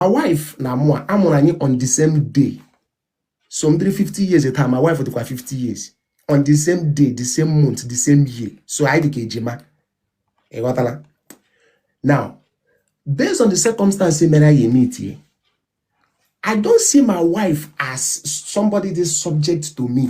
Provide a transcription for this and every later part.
my wife na mụ a mụrụ anyị on the same day so m dịrị 50 years taa my wife adịkwa 50 years on the same day the same month the same year so anyị dịka ejima ị ghọtala now based on the circumstance mere anyị emeetie I don't see my wife as somebody that's subject to me.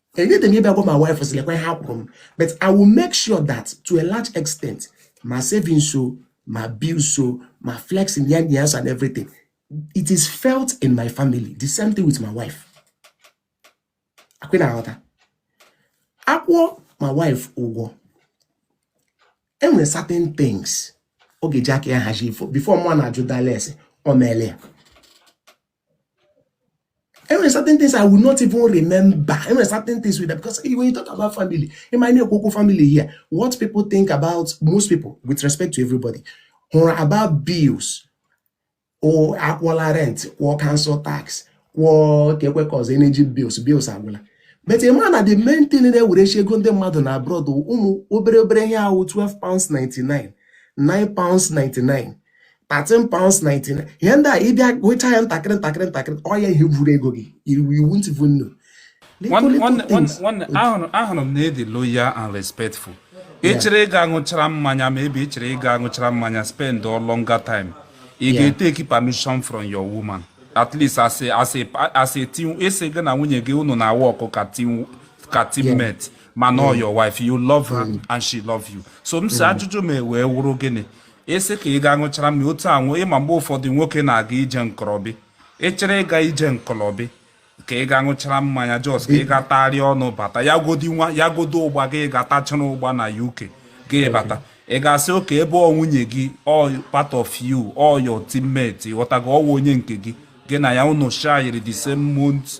enwedị m ịbịa gwa my wife sị lekwa ihe a kwụrụ m but I will make sure that to a large extent ma savings o ma bills o ma flexing yan yans and everything it is felt in my family the same thing with my wife ọ kwa ị na-aghọta a kwụọ my wife ụgwọ enwere certain things ọ ga-eji aka ya hazie before mụ na-ajụ dala ese o meele ya enwere certain things I will not even remember enwere certain things with that because when you talk about family ị ma m na-ekwu okwu family here what people think about most people with respect to everybody wụrụ about bills o a kwụọla rent kwụọ council tax kwụọ kekwe cause energy bills bills agwụla but ị ma na the main thing na-ewerecha ego ndị mmadụ na abroad ụmụ obere obere ihe ahụ 12 pounds 99 9 pounds 99 13 pounds 99 ihe ndị a ị bịa gụcha ya ntakịrị ntakịrị ntakịrị ọ ya ihe buru ego gị you won't even know ọ wụrụ na ị dị loyal and respectful ị chọrọ ịga aṅụchara mmanya maybe ị chọrọ ịga aṅụchara mmanya spendụọ longer time ị ga-eteki permission from your woman at least as a as a as a team ese gị na nwunye gị unu na-awọkụ ka team ka teammate mana ọ your wife you love her mm. and she love you so m sị mm. ajụjụ m wee wụrụ gịnị ị sị ka ị gaa ṅụchara mmiri otu ahụ ị ma mgbe ụfọdụ nwoke na-aga ije nkọrọbi ị chọrọ ịga ije nkọrọbi ka ị gaa ṅụchara mmanya just ka ị ga tagharịa ọnụ bata ya godi nwa ya godu ụgba gị gaa tachara ụgba na uk gị bata ị ga-asị okay ebe ọ nwunye gị ọ part of you ọ your teammate ghọtago ọwa onye nke gị gị na ya unu shayiri the same month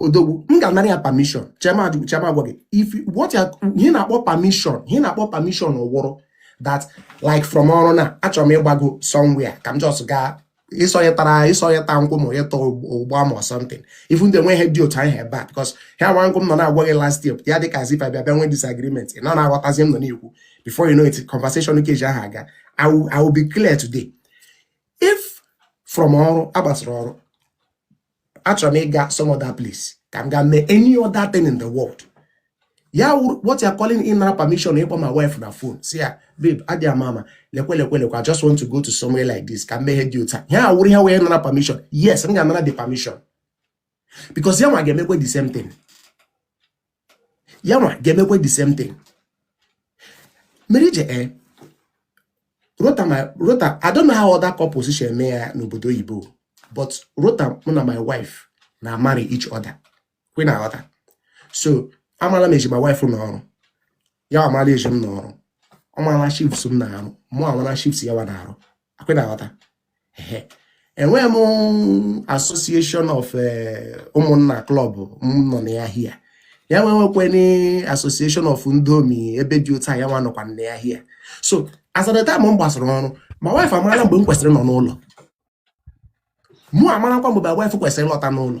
odogwu m ga-anara ya permission chee ma chee ma gwa gị if what you're ihe ị na-akpọ permission ihe ị na-akpọ permission wụrụ that like from ọrụ na achọrọ m ịgbago somewhere ka m just gaa ịsọnye tara ịsọnye taa nkwọbi taa ụgba ama or something even though nweghị ihe dị otu ahụ ebe a because ihe a wụ okwu m nọ na-agwa gị last year ya dị ka as if anyị bịa bịa nwee disagreement ị nọ na-aghọtazi ihe m nọ na-ekwu before you know it conversation keji ahụ aga I will, I will be clear today if from ọrụ agbasara ọrụ achọrọ m ịga some other place ka m ga mee any other thing in the world ya wụrụ what you are calling ịnara permission ịkpọ my wife na phone sị ya babe adị ama ama lekwe lekwe lekwe I just want to go to somewhere like this ka m mee ihe dị otu a ya wụrụ ihe wụ ịnara permission yes m ga-anara the permission because ya nwa ga-emekwe the same thing ya nwa ga-emekwa the same thing marriage ee eh, rota my rota i don't know how other couples si eme ya n'obodo oyibo but rota mụ na my wife na marry each other kwa ị na-aghọta so amala m eji my wife nọ ọrụ ya amala eji m nọ ọrụ ọ mara shifts m na-arụ mụ amara shifts ya wa na-arụ akwa ị na-aghọta enwe m association of eh, ụmụnna club m nọ na ya here ya nwa nwekweni association of ndị omi ebe dị otu a ya nwa nọkwa na ya here so as at the time m gbasara ọrụ my wife amara mgbe m kwesịrị ịnọ n'ụlọ mụ amarakwa mgbe my wife kwesịrị ịlọta n'ụlọ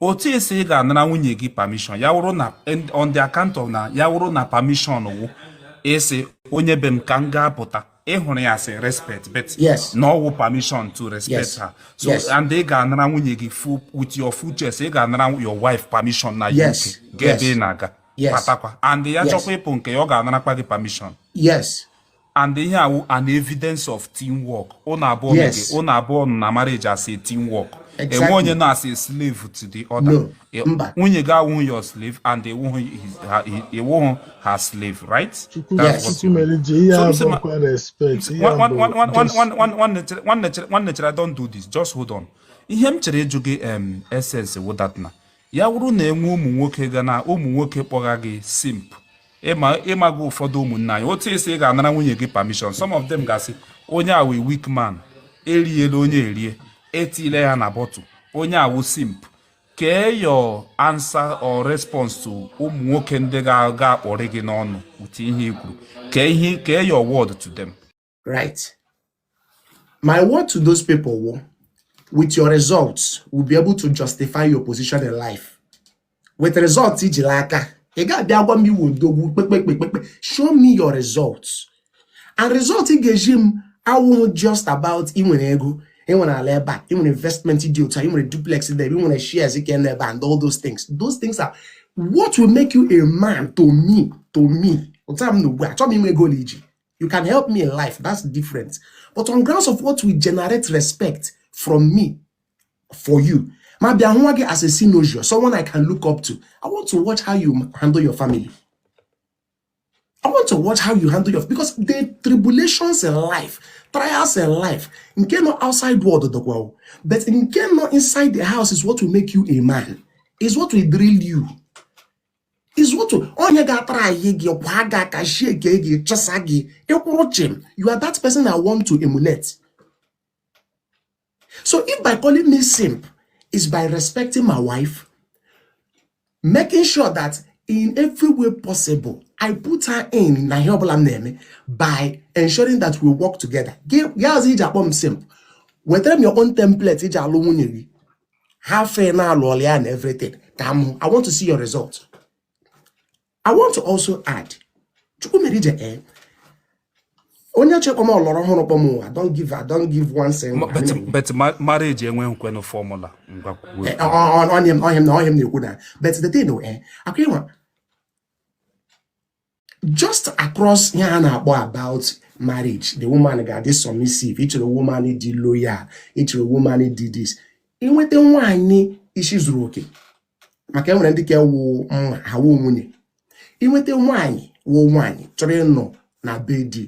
otu esi ị ga-anara nwunye gị permission ya wụrụ na on the account of na ya wụrụ na permission wụ ịsị onye be m ka m gaa pụta ị hụrụ ya as respect but Yes. na ọ wụ permission to respect Yes. her so Yes. and ị ga-anara nwunye gị full with your full chest ị ga-anara your wife permission na Yes. UK ga ebe Yes. ị na-aga Yes. batakwa and ya Yes. chọkwa ịpụ nke ya ọ ga-anarakwa gị permission yes and ihe a wụ an evidence of teamwork unu abụọ yes. unu abụọ nọ na marriage as a teamwork exactly. enwe onye nọ as a slave to the other no. E, nwunye gị awụghị your slave and ị wụghị her slave right nwanne chere don't do this just hold on ihe m chere ịjụ gị essence wụ that na ya wụrụ na enwe ụmụ nwoke ga na ụmụ nwoke kpọga gị simp ị maga ụfọdụ ụmụnna anyị otu esi ị ga-anara nwunye gị permission some of them ga-asị onye a wụ weak man eriela onye erie etile ya na bottle onye a wụ simp kee your answer or response to ụmụ nwoke ndị ga-akpọrị gị n'ọnụ ụdị ihe i kwuru kee ihe kee your word to them right? My word to those people wụ, with your results, will be able to justify your position in life. With results, i ji n'aka, ị ga-abịa agwa m ị wụ odogwu kpekpekpekpe show me your results and result ị ga-ezi m awụghị just about ị nwere ego ị nwere ala ebe a ị nwere investment dị otu a ị nwere duplex dị ebe ị nwere shares ike n'ebe a and all those things those things are what will make you a man to me to me ụta m na ugbu a chọọ m inwe ego na iji you can help me in life that's different but on grounds of what we generate respect from me for you ma bịa nwa gị as a synovial someone i can look up to i want to watch how you handle your family i want to watch how you handle your because the tribulations in life trials in life nke nọ outside world dọkwa but nke nọ inside the house is what will make you a man is what will drill you is what onye ga-atara anyị gị ọ kwaa gị aka shake gị chọsa gị ị kwụrụ chịm you are that person I want to emulate so if by calling me simp is by respecting my wife making sure that in every way possible I put her in na ihe ọbụla m na-eme by ensuring that we work together gị azụ i ji akpọ m simp wetara m your own template i ji alụ nwunye gị ha fe na-alụ ọlụ ya na everything ka m i want to see your result i want to also add Chukwumerije ee eh, onye chekwa m ọ lụrụ ọhụrụ kpọm ụwa don't give her don't give one cent but marriage enweghịkwanụ formula eh, onye m na onye m na-ekwu na but the thing eh akwa ịnwa just across ihe a na-akpọ about marriage the woman ga-adị submissive ị chọrọ woman dị loyal ị chọrọ woman dị this i nweta nwaanyị isi zuru oke maka e nwere ndị ka ewu mma ha wụọ nwunye i nweta nwaanyị wụ nwaanyị chọrọ ịnọ na be di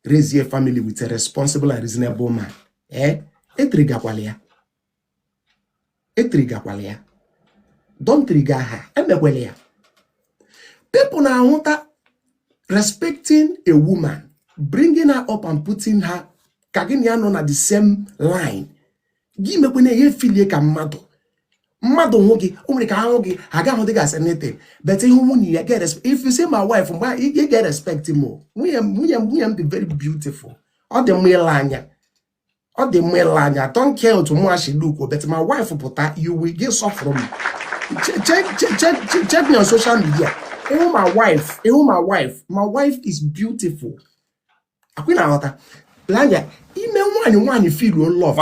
raise a family with a responsible and reasonable man ee eh? etrigakwala ya etrigakwala ya don't trigger her emekwala ya people na-ahụta respecting a woman bringing her up and putting her ka gị na ya nọ na the same line gị mekwanụ ya filie ka mmadụ mmadụ hụ gị o nwere ka a hụ gị ha ga-ahụdị gị as nothing but ị hụ nwunye ya ị ga-erespect if you see my wife mgbe ị ga-erespect m o nwunye m nwunye m nwunye m dị very beautiful ọ dị mma ile anya ọ dị mma ile anya I don't care otu mụa shi look o but my wife pụta ị ga-asọfụrụ m check me on social media ị hụ my wife ị hụ my wife my wife is beautiful akwa ị na-aghọta lanya ime nwaanyị nwaanyị feel love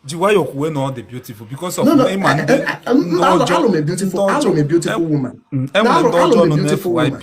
ji nwayọ kwuwe na ọ dị beautiful because of ị ma ndị ọjọọ alụ m beautiful woman mm, e nwere ndị ọjọọ nọ na FYP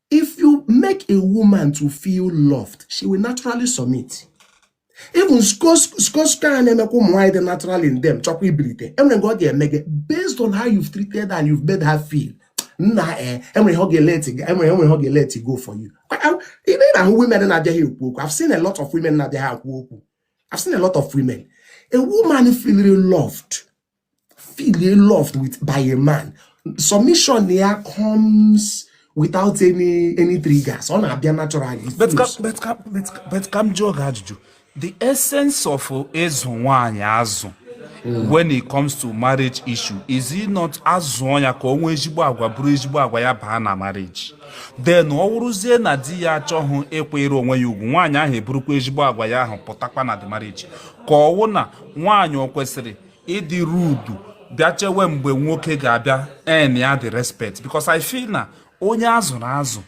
If you make a woman to feel loved, she will naturally submit. Even skosko a na-emekwa ụmụ nwaanyị dị natural in them chọkwa ibilite e nwere nke ọ ga-eme gị based on how you've treated her and you've made her feel nna eh, e nwere ihe ọ ga-eleti e nwere e nwere ihe ọ ga-eleti go for you ị na-ahụ women na-abịaghị ekwu okwu I've seen a lot of women na-abịaghị ekwu okwu I've seen a lot of women a woman feeling loved feel loved with by a man submission ya comes without any any triggers ọ na-abịa natural but ka m jụọ gị ajụjụ the essence of ịzụ nwaanyị azụ hmm. when it comes to marriage issue is it not a zụọ ya ka o nwee ezigbo agwa buru ezigbo agwa ya baa na marriage then ọ wụrụzie na di ya achọhụ ịkwanyere onwe ya ugwu nwaanyị ahụ eburukwa ezigbo agwa ya ahụ pụtakwa na the marriage ka ọ wụ na nwaanyị o kwesịrị ịdị rude bịa chewe mgbe nwoke ga-abịa earn ya the respect because I feel na onye a zụrụ azụ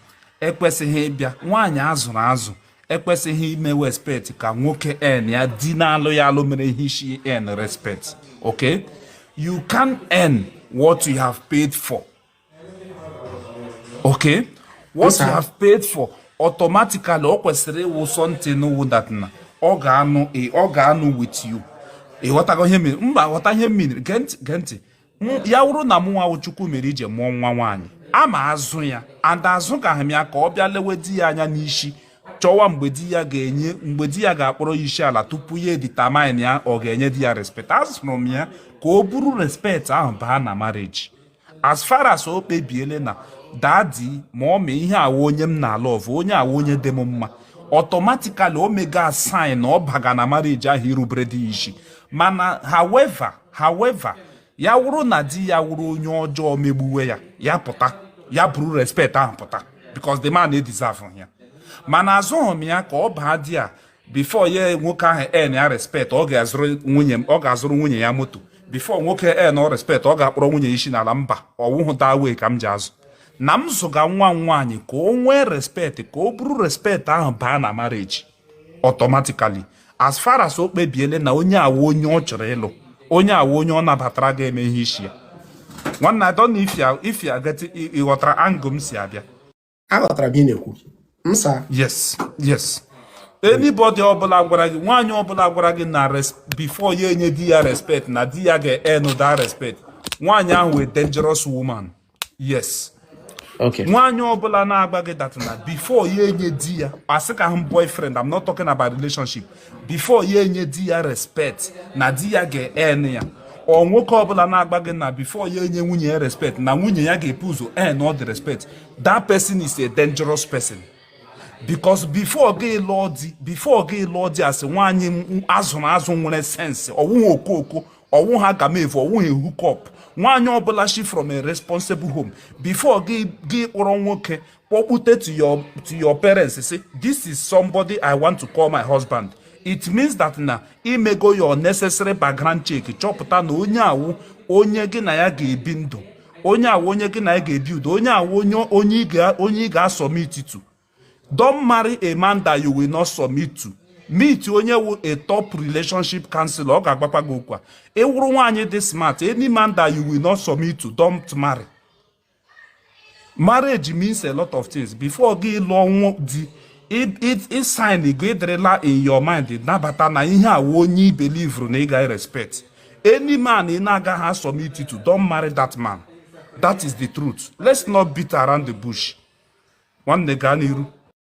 ekwesịghị ịbịa nwaanyị a zụrụ azụ ekwesịghị ime respect ka nwoke earn ya di na-alụ ya alụ mere ihe isi earn respect okay you can't earn what you have paid for okay what you have paid for automatically ọ kwesịrị ịwụ something wụ that na ọ ga-anọ ọ ga-anọ with you ị ghọtago ihe mere mba ghọta ihe mere gee ntị gee ntị ya wụrụ na mụ nwa wụ Chukwumerije mụọ nwa nwaanyị aga m azụ ya and azụgaha m ya ka ọ bịa lewe di ya anya n'isi chọwa mgbe di ya ga-enye mgbe di ya ga-akpọrọ ya isi ala tupu ya edetermine ya ọ ga-enye di ya respect azụrụ m ya ka o buru respect ahụ baa na marriage as far as o kpebiele na daddy mummy ihe a wụ onye m na-alove onye a wụ onye dị m mma automatically o mega asign na ọ baga na marriage ahụ irubere di ya isi mana however however ya wụrụ na di ya wụrụ onye ọjọọ megbuwe ya ya pụta ya buru respect ahụ pụta because the man edeserveghị ya mana azụghị m ya ka ọ baa di a before nwoke ahụ earn ya respect ọ ga-azụrụ nwunye ọ ga-azụrụ nwunye ya moto before nwoke earn respect ọ ga-akpọrọ nwunye isi n'ala mba ọwụhụ that way ka m ji azụ na m zụga nwa m nwaanyị ka o nwee respect ka o buru respect ahụ baa na marriage automatically as far as o kpebiele na onye a wụ onye ọ chọrọ ịlụ onye a wụ onye ọ nabatara ga-eme ihe isi ya nwanne I don't know if you get ị ghọtara angle m si abịa aghọtara m ihe ị na-ekwu sir yes yes anybody ọbụla gwara gị nwaanyị ọbụla gwara gị na before ya enye di ya respect na di ya ga-earn that respect nwaanyị ahụ wụ a dangerous woman yes nwaanyị ọbụla na-agwa gị that na before ya enye di ya asịkwaha m boyfriend I'm not talking about relationship before ya enye di ya respect na di ya ga-earn ya or nwoke ọbụla na-agwa gị na before ya enye nwunye ya respect na nwunye ya ga-ebu ụzọ earn the respect that person is a dangerous person because before gị lụọ di before gị lụọ di as nwaanyị a zụrụ azụ nwere sense ọwụghị okooko ọwụha agamevu ọwụghị hookup nwaanyị ọbụla shi from a responsible home before gị akpọrọ nwoke kpọkpute to your to your parents say this is somebody i want to call my husband it means that na i mego your necessary background check chọpụta na onye a wụ onye gị na ya ga-ebi ndụ onye a wụ onye gị na ya ga-ebi udo onye a wụ onye onye ị ga-asubmit to don't marry a man that you will not submit to meet onye wụ a top relationship counselor ọ ga-agwakwa gị okwu a ị wụrụ nwaanyị dị smart any man that you will not submit to don't marry marriage means a lot of things before gị lụọ nwa di ị sign gị dịrịla in your mind nabata na ihe a wụ onye i believeru na ị ga respect any man ị na-agaghị asubmit to don't marry that man that is the truth let's not beat around the bush nwanne gaa n'iru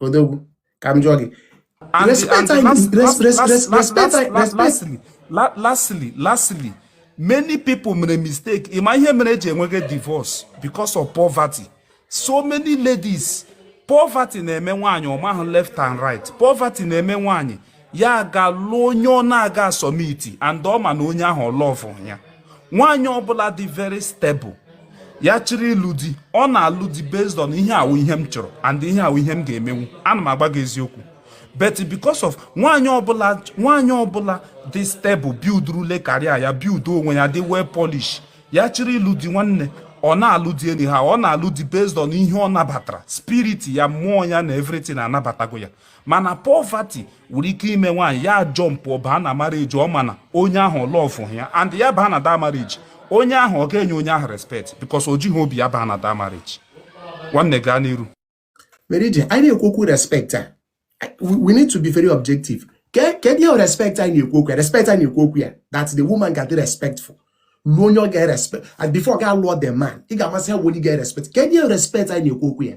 odogwu ka m jụọ gị lastly many people mere mistake ị ma ihe mere eji enweghị divorce because of poverty so many ladies poverty na-eme nwaanyị ọ mahụ left and right poverty na-eme nwaanyị ya aga lụọ onye ọ na-aga asubmit and ọ ma na onye ahụ ọ lovehụ ya nwaanyị ọbụla dị very stable ya chịrị ịlụ di ọ na-alụ di based on ihe a wụ ihe m chọrọ and ihe a wụ ihe m ga-emenwu ana m agwa gị eziokwu but because of nwaanyị ọbụla nwaanyị ọbụla dị stable buildrule career ya build onwe ya dị well polished ya chịrị ịlụ di nwanne ọ na-alụ di anyhow ọ na-alụ di based on ihe ọ nabatara spirit ya mmụọ ya na everything anabatago ya mana poverty nwere ike ime nwaanyị ya ajumpụ baa na marriage ọ ma na onye ahụ ọ lovehụ ya and ya baa na that marriage onye ahụ ọ ga-enye onye ahụ respect because o jighị obi ya baa na that marriage nwanne gaa n'iru marriage anyị na-ekwu okwu respect a we need to be very objective kedu ihe respect anyị na-ekwu okwu ya respect anyị na-ekwu okwu ya that the woman ga-adị respectful lụọ onye ọ ga-erespect and before gị alụọ the man ị ga-amasị ha onye ga-erespect kedu ihe respect anyị na-ekwu okwu ya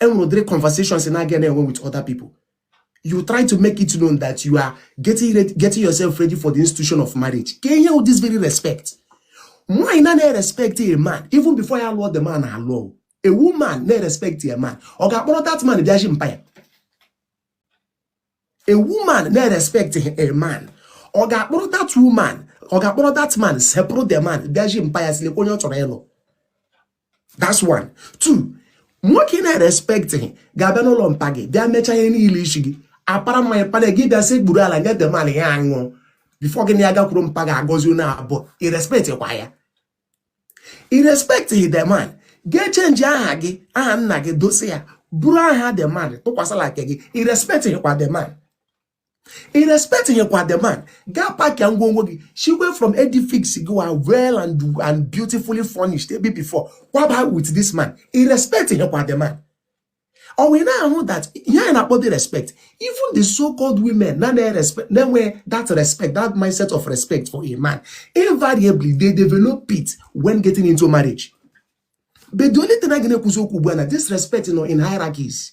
enwere ụdịrị conversations na-aga na-enwe with other people you try to make it known that you are getting yourself ready for the institution of marriage kee ihe this very respect nwaanyị na na-respect a man even before ya lụọ the man alụọ a woman na-respect a man ọ ga-akpọrọ that man bịa zi mpa ya a woman na-respect a man ọ ga-akpọrọ that woman ọ ga-akpọrọ that man sepụrụ the man bịa zi mpa ya sị lekwa onye ọ chọrọ ịlụ that's one two nwoke na-respect gị ga-abịa n'ụlọ mpa gị bịa mechaa ihe niile isi gị a para mmanya panye gị bịa sekpuru ala nye the man ya aṅụọ before gị na ya gakwuru mpa gị agọzie unu abụọ ị respect kwa ya ị respecthị the man ga-echenji aha gị aha nna gị dosi ya buru aha the man tụkwasị la nke gị ị respecthịkwa the man ị respecthịkwa the man gị apackịa ngwongwo gị shigwe from edifice gị wụ well and, and beautifully furnished ebe before kwaba with this man ị respecthịkwa the man ọ wee na-ahụ that ihe anyị na-akpọ the respect even the so-called women na na-enwe that respect that mindset of respect for a man invariably they develop it when getting into marriage but the only thing anyị ga na-ekwuzi okwu ugbu a na this respect nọ in hierarchies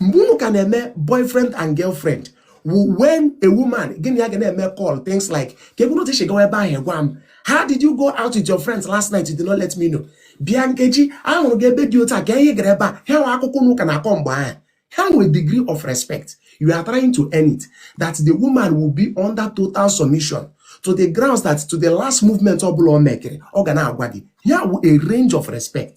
mgbe unu ka na-eme boyfriend and girlfriend when a woman gị na ya ga na-eme call things like kee otu i shi gawa ebe ahụ gwa m how did you go out with your friends last night you did not let me know bịa Nkechi a hụrụ gị ebe dị otu a kee ihe ị gara ebe a ha wụ akụkọ unu ka na-akọ mgbe ahụ ha wụ degree of respect you are trying to earn it that the woman will be under total submission to the grounds that to the last movement ọ bụla ọ mekere ọ ga na-agwa gị ya wụ a range of respect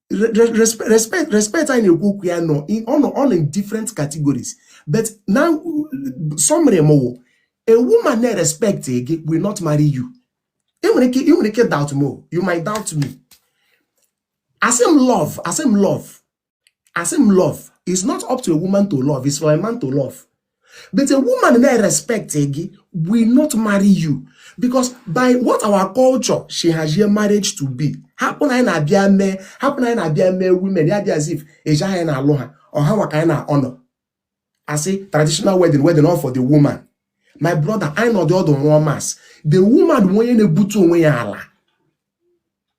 respect respect anyị na-ekwu okwu ya nọ ọ nọ in different categories but now summary mụ wụ a woman na-erespect gị will not marry you ị nwere ike ị nwere ike doubt mụ you might doubt me asị m love asị m love asị m love it's not up to a woman to love it's for a man to love but a woman na-erespect gị will not marry you because by what our culture she has your marriage to be hapụ na anyị na-abịa mee hapụ na anyị na-abịa mee women ya dị as if eji anyị na-alụ ha ọ ha nwa ka anyị na-honour asị traditional wedding wedding all for the woman my brother anyị nọdị ọdụ rụọ maths the woman wụ onye na-ebutu onwe ya ala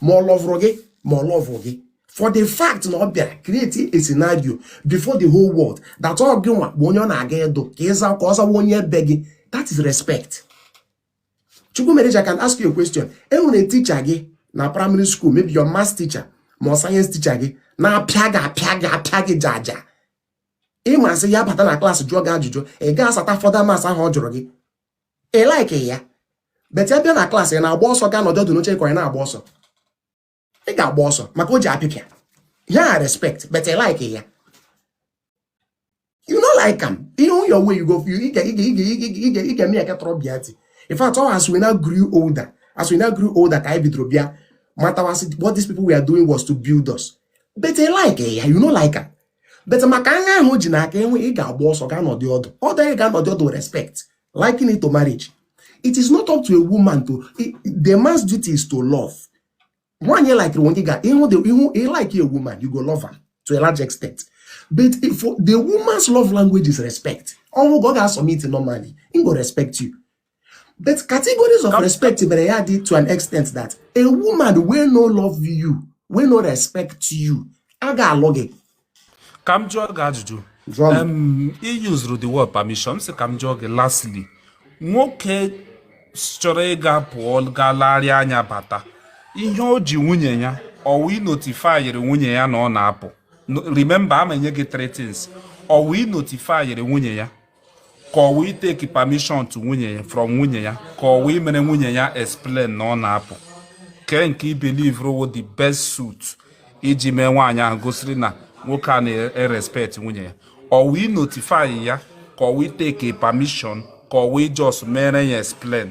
ma ọ lọvụrụ gị ma ọ lọvụ gị for the fact na ọ bịara create a scenario before the whole world that ọ gị nwa bụ onye ọ na-aga ịdụ ka ịza ka ọ zawa onye ebe gị that is respect Chukwumerije I can ask you a question e nwere teacher gị na primary school maybe your math teacher ma ọ science teacher gị na-apịa gị apịa gị apịa gị jaja ị ma sị ya bata na class jụọ gị ajụjụ ị ga-asata further maths ahụ ọ jụrụ gị ị like ya but ya bịa na class ị na-agba ọsọ gaa nọdụ ọdụ n'oche ka ị na-agba ọsọ ị ga-agba ọsọ maka o ji apịpịa ya respect but ị like ya you no like am ị hụ ya on your way you go ị ga-eme ya aka tọrọ bịa ti in fact ọ as we now grew older as we now grew older ka anyị bidoro bịa matawa what these people were doing was to build us but ị like ya you no like am but maka aṅa ahụ o ji n'aka enwe ị ga-agba ọsọ gaa nọdị ọdụ ọdụ anyị ga anọdị ọdụ respect liking it to marriage it is not up to a woman to the man's duty is to love nwaanyị ị likere wụ onye ị ga-ịhụ the ihu ị like a woman you go love am to a large extent but if the woman's love language is respect ọ wụ gị ọ ga-asubmit normally im go respect you But categories of respect mere ya dị to an extent that a woman wey no love you, wey no respect you, a ga-alụ gị. Ka m jụọ gị ajụjụ. I used the word permission, sị ka m jụọ gị lastly. Nwoke chọrọ ịga pụọ gaa larịa anya bata. Ihe o ji nwunye ya, ọ wụ ị notifayiri nwunye ya na ọ na-apụ. Remember, ama enye gị three things. Ọ wụ ị notifayiri nwunye ya. ka ọ wụ ịtake permission to nwunye ya from nwunye ya ka ọ wụ imere nwunye ya explain na ọ na-apụ kee nke ị believeru wụ the best suit iji mee nwaanyị ahụ gosiri na nwoke a na-erespect nwunye ya ọ wụ ịnotify ya ka ọ wụ ịtake permission ka ọ wụ ị just mere ya explain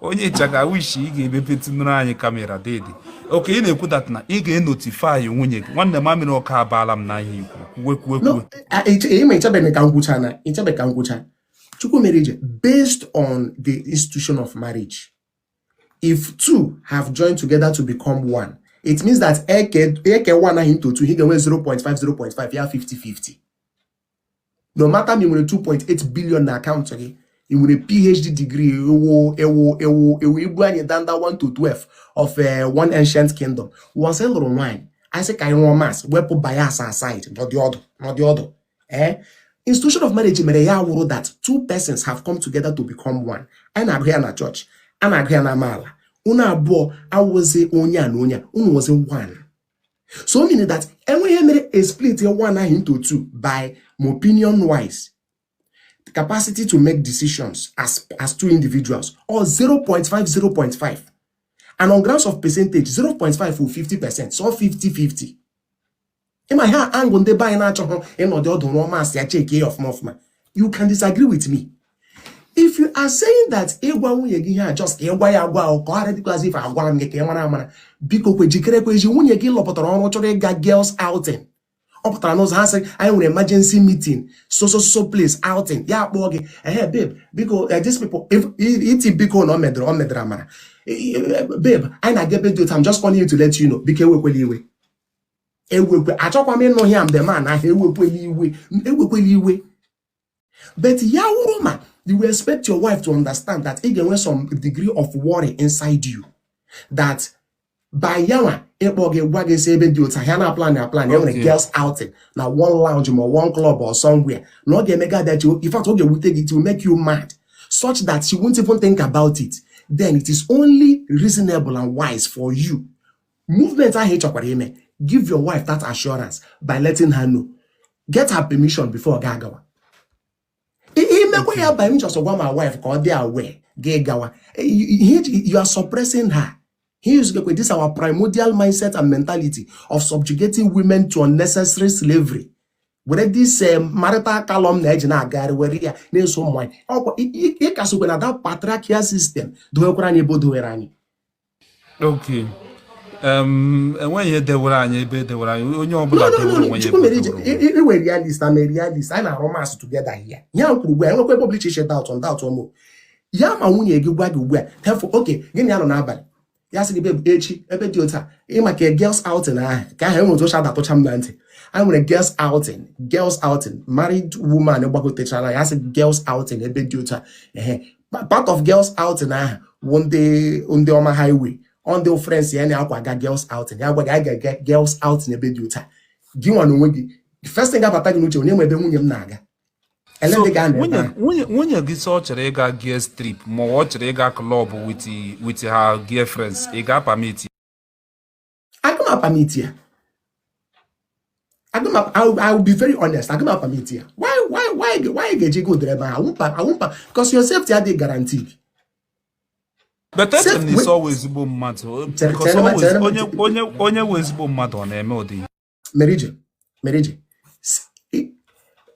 onye ịchaka wish ị ga-emepetụnụrụ anyị kamera dede okay ị na-ekwu that na ị ga-enotify nwunye gị nwanne m amịrị ọka abaala m n'ihe i kwu kwuwekwuwekwu ị ma i chebeghị ka m kwuchaa no i chebeghị ka m kwuchaa chukwumerije based on the institution of marriage if two have joined together to become one it means that e kee one ahụ into two a ga-enwe 0.5 0.5 yeah 50 50 no matter ma i nwere 2.8 billion na account gị ị nwere phd degree ewo ewo ewo ewo ibu anyị danda 1 to 12 of eh, one ancient kingdom once ị lụrụ nwaanyị anyị sị ka anyị rụọ maths wepụ bias aside nọdị ọdụ nọdị ọdụ ee eh? institution of marriage mere ya wụrụ that two persons have come together to become one anyị na-agụ ya na church a na-agụ ya na amaala unu abụọ awụzi onye a na onye a unu wụzi one so meaning that e nwee ihe mere a split ya one ahụ into two by my opinion wise the capacity to make decisions as as two individuals or 0.5 0.5 and on grounds of percentage 0.5 for 50 percent so 50 50 ị ma ihe a wụ ihe ndị be anyị na-achọghị ịnọdụ ọdụ rụọ maths ya check ya ọfụma ọfụma you can disagree with me if you are saying that ịgwa nwunye gị ihe a just ka ịgwa ya agwa ahụ ka ọ ghara dịkwa as if agwara m gị ka ị mara amara biko kwa jikerekwa echi nwunye gị lọpụtara ọrụ chọrọ ịga girls outing ọ pụtara n'ụzọ ha sị anyị nwere emergency meeting so so so place outing ya akpọọ gị hey babe biko eh, these people iti biko na ọ medara ọ medara mara eh, eh, babe anyị na-aga ebe dị otu a I'm just calling you to let you know biko ewekwela iwe ewekwe achọkwa m ịnụ ya mgbe ma na ahịa ewekwela iwe ewekwela iwe but ya wụrụ ma you will expect your wife to understand that ị ga-enwe some degree of worry inside you that by yawa ịkpọ gị gwa gị sị ebe dị otu a ha na-aplan aplan e nwere girls outing na one lounge ma one club or somewhere na ọ ga-eme gị adachi in fact ọ ga-ewute gị it will make you mad such that she won't even think about it then it is only reasonable and wise for you movement ahụ ị chọkwara ime give your wife that assurance by letting her know get her permission before gị agawa imekwa ya by m just gwa my wife ka ọ dị aware gị gawa you are suppressing her It is this our primordial mindset and mentality of subjugating women to unnecessary slavery. were this eh, marital column na eji na-agagharị were ya na-eso ụmụ nwaanyị ọkwa ị ka sokwa na that patriarchal system dowekwara anyị ebe o dowere anyị ọkwa ihe dewere anyị ebe e dewere anyị onye ọbụla ị wụ realist I'm a realist anyị na-arụ maths together here ya wụrụ ugbu a enwekwa ebe ọbụla iche iche daụtọ ndaụtọ ụmụ ya ma nwunye gị gwa gị ugbu a therefore okay gị na ya nọ n'abalị ya sị gị echi ebe dị otu a ị ma ka girls outing ahụ ka ahụ e nwere otu o si adatụcha m na ntị anyị nwere girls outing girls outing married woman gbagotechara ya sị girls outing ebe dị otu a ehe part of girls outing ahụ bụ ndị ndị ọma highway ọ ndị friends ya na-akwa aga girls outing ya gwa gị anyị ga-aga girls outing ebe dị otu a gị nwa na onwe gị the first thing ga-abata gị n'uche onye nwe ebe nwunye m na-aga elee ndị ga-anọ ebe ahụ nwunye nwunye gị sị ọ chọrọ ịga girls trip ma ọ wụ ọ chọrọ ịga club with with her girlfriends ị ga-apermit agaghị m apermit ya agaghị m I will be very honest agaghị m apermit ya why why why why ga-eji gagodere ebe ahụ awụmpa awụmpa because your safety adịghị guaranteed but echere m na ị sị ọ wụ ezigbo mmadụ onye wụ ezigbo mmadụ ọ na-eme ụdị merije merije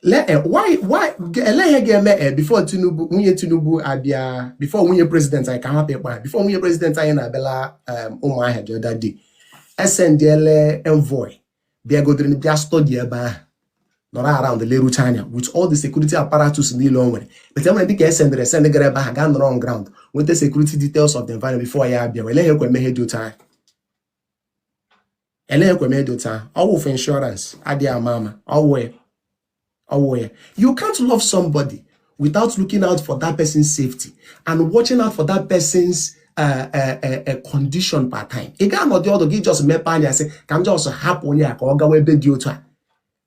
lee eh, why why elee ihe ga-eme e before tinubu nwunye tinubu abịa before nwunye president anyị ka ha hapụ ịkpa before nwunye president anyị na-abịala eh, ụmụahịa the other day esendịele envoy bịagodere bịa study ebe ahụ nọrọ around lerucha anya with all the security apparatus niile o nwere but e nwere ndị ka esendere esend gara ebe ahụ gaa nọrọ on ground nweta security details of the environment before ya abịa wele ha ekwe eme ihe dị otu ahụ elee ekwe eme ihe dị otu a ọ wụ for insurance adịghị ama ama ọ wụ ya ọ wụ ya you can't love somebody without looking out for that person's safety and watching out for that person's uh, uh, uh, uh condition per time ị ga-anọdụ ọdụ gị just mepe anya sị ka m just hapụ onye a ka ọ gawa ebe dị otu a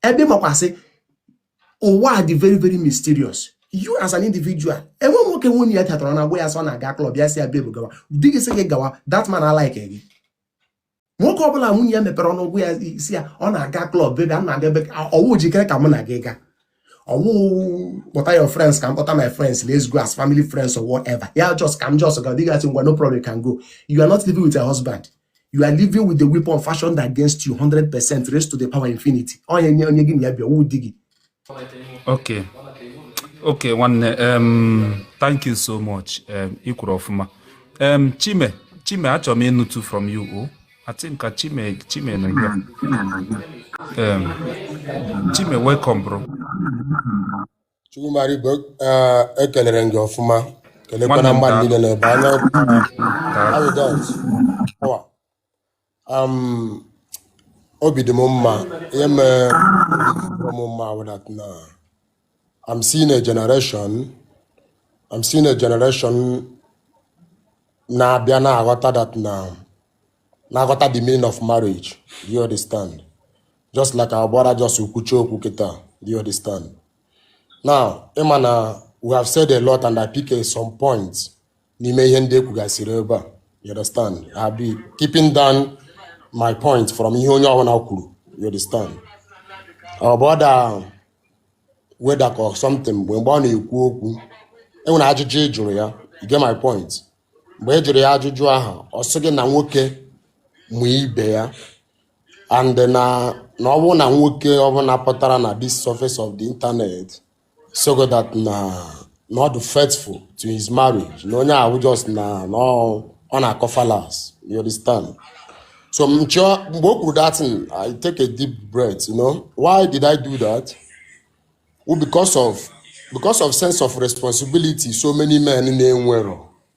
ebe ị makwa sị ụwa dị very very mysterious you as an individual e nwee nwoke nwunye ya tetara na-agwa ya sị ọ na-aga club ya sị ya baby gawa di gị sị gị gawa that man alikeghị gị nwoke ọ bụla nwunye ya mepere ọnụ gwa ya sị ya ọ na-aga club baby a na-aga ebe ọ wụ jikere ka mụ na gị gaa ọ wụ kpọta your friends ka m kpọta my friends let's go as family friends or whatever ya just ka m just gaa di gị asị ngwa no problem you can go you are not living with a husband you are living with the weapon fashioned against you 100 percent raised to the power infinity onye nye onye gị na ya bi awụghị di gị okay okay nwanne um, thank you so much um, ị kwuru ọfụma um, chime chime achọrọ m ịnụtụ from you o oh. I think ka chime chime nọ ya um, chime welcome bro chukwumerije uh, ekelere m gị ọfụma kelekwana mmadụ niile na-ele anya obi dị m mma ihe mere m mma wụ that na I'm seeing a generation I'm seeing a generation na-abịa na-aghọta that na na-aghọta the meaning of marriage do you understand just like our brother just kwuchaa okwu kịta do you understand now ị ma na we have said a lot and I pick some points n'ime ihe ndị ekwugasịrị ebe a you understand I'll be keeping down my point from ihe onye ọbụla kwuru you understand our brother weda ka something mgbe mgbe ọ na-ekwu okwu enwere ajụjụ ị jụrụ ya you get my point mgbe ị jụrụ ya ajụjụ ahụ ọ sị gị na nwoke mụ ibe ya and na na ọ bụ na nwoke ọbụla pụtara na this surface of the internet so that na na ọ dị faithful to his marriage na onye ahụ just na na ọ ọ na-akọ fallacy you understand so m chọọ mgbe o kwuru that thing i take a deep breath you know why did i do that well, because of because of sense of responsibility so many men na-enwero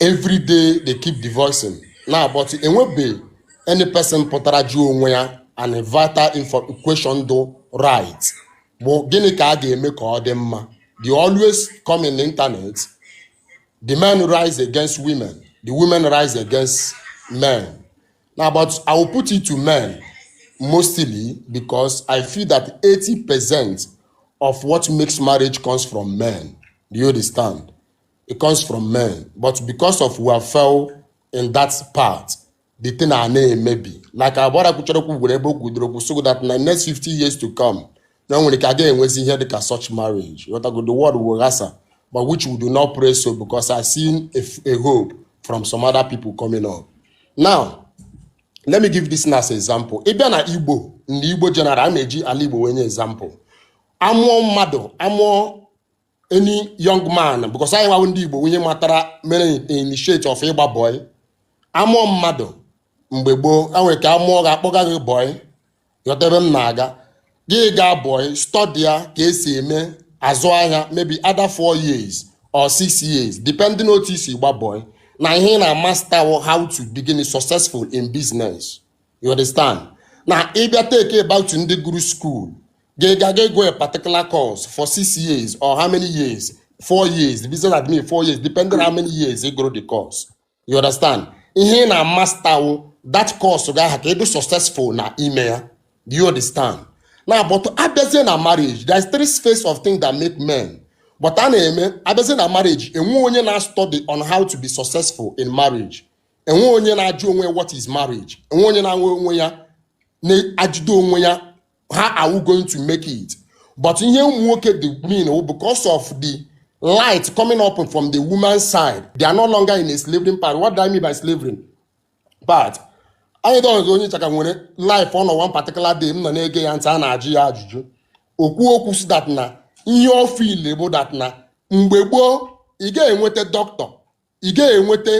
every day they keep divorcing now but enwebe any person pụtara jụọ onwe ya and vital info question do right bụ gịnị ka a ga-eme ka ọ dị mma they always come in the internet the men rise against women the women rise against men now but i will put it to men mostly because i feel that 80 percent of what makes marriage comes from men do you understand it comes from men but because of we fail in that part the thing a na-emebi like our brother kwuchara okwu gwere ebe okwu dịrị okwu so that na next 50 years to come na nwere ka a ga enwezi ihe dịka such marriage ghọtago the world will ghasa but which we do not pray so because I seen a, f- a hope from some other people coming up now let me give this as example ị bịa na igbo ndị igbo general a na-eji ala igbo wee nye example amụọ mmadụ amụọ any young man because anyị nwa wụ ndị Igbo onye matara mere initiate of ịgba boy amụọ mmadụ mgbe gboo a nwere ka amụọ gị akpọga gị boy ghọta ebe m na-aga gị gaa boy study ya ka esi eme azụ ahịa maybe either four years or six years depending on otu isi gba boy na ihe ị na-amaster how to become successful in business you understand na ịbịa talk about ndị gụrụ school ga-ega ga gụọ a particular course for six years or how many years four years the business admin four years depending how many years ị gụrụ the course you understand ihe ị na-amaster wụ that course ga-aha ka ị dị successful na ime ya do you understand na but abịazie na marriage there is three space of things that make men but a na-eme abịazie na marriage enwe onye na-study on how to be successful in marriage enwe onye na-ajụ onwe ya what is marriage enwe onye na-anwe onwe ya na-ajụdo onwe ya how are we going to make it but ihe ụmụ nwoke dị mean oh, because of the light coming up from the woman's side they are no longer in a slavery part what do I mean by slavery part anyị dọghịzi onye chaka nwere live ọ nọ one particular day m nọ na-ege ya ntị a na-ajụ ya ajụjụ o kwuo okwu sị that na ihe ọ feel bụ that na mgbe gboo ị ga-enweta doctor ị ga-enweta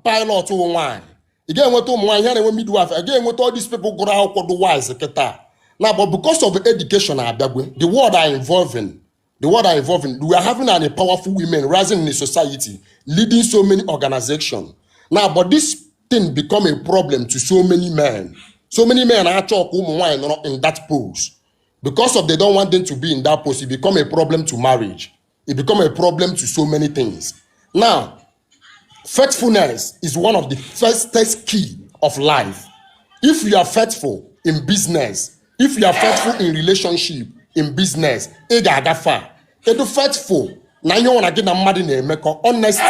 pilot wụ nwaanyị ị ga-enweta ụmụ nwaanyị ha na-eme midwife ị ga-enweta all these people gụrụ akwụkwọ dị wise kịta na but because of education abịagwo the world are evolving the world are evolving we are having a powerful women rising in the society leading so many organizations now but this thing become a problem to so many men so many men achọ ka ụmụ nwaanyị nọrọ in that post because of they don't want them to be in that post it become a problem to marriage it become a problem to so many things now faithfulness is one of the first key of life if you are faithful in business if you are faithful in relationship in business ị ga-aga far ị dụ faithful na ihe ọwụna gị na mmadụ na-emekọ honesty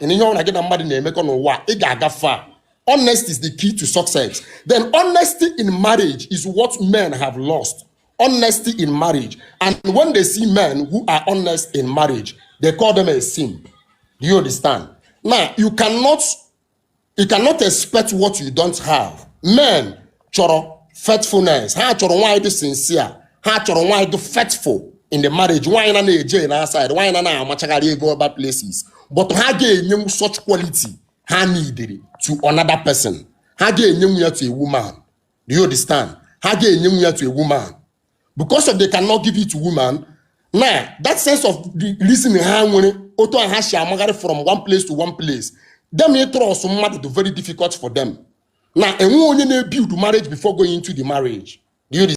na ihe ọwụna gị na mmadụ na-emekọ n'ụwa ị ga-aga far honesty is the key to success then honesty in marriage is what men have lost honesty in marriage. And when they see men who are honest in marriage, they call them a simp. Do you understand? Now, you cannot you cannot expect what you don't have. Men chọrọ faithfulness. Ha chọrọ nwaanyị dị sincere. Ha chọrọ nwaanyị dị faithful in the marriage. Nwaanyị na na-eje na outside. Nwaanyị na na-amachagharị ego other places. But ha ga-enyenwu such quality ha needịrị to another person. Ha ga-enyenwu ya to a woman. do you understand ha ga-enyenwu ya to a woman because of they cannot give it to woman na that sense of the reason ha nwere otu a ha shi amagharị from one place to one place them ịtrust mmadụ dị very difficult for them now enwe onye na-ebuild marriage before going into the marriage do you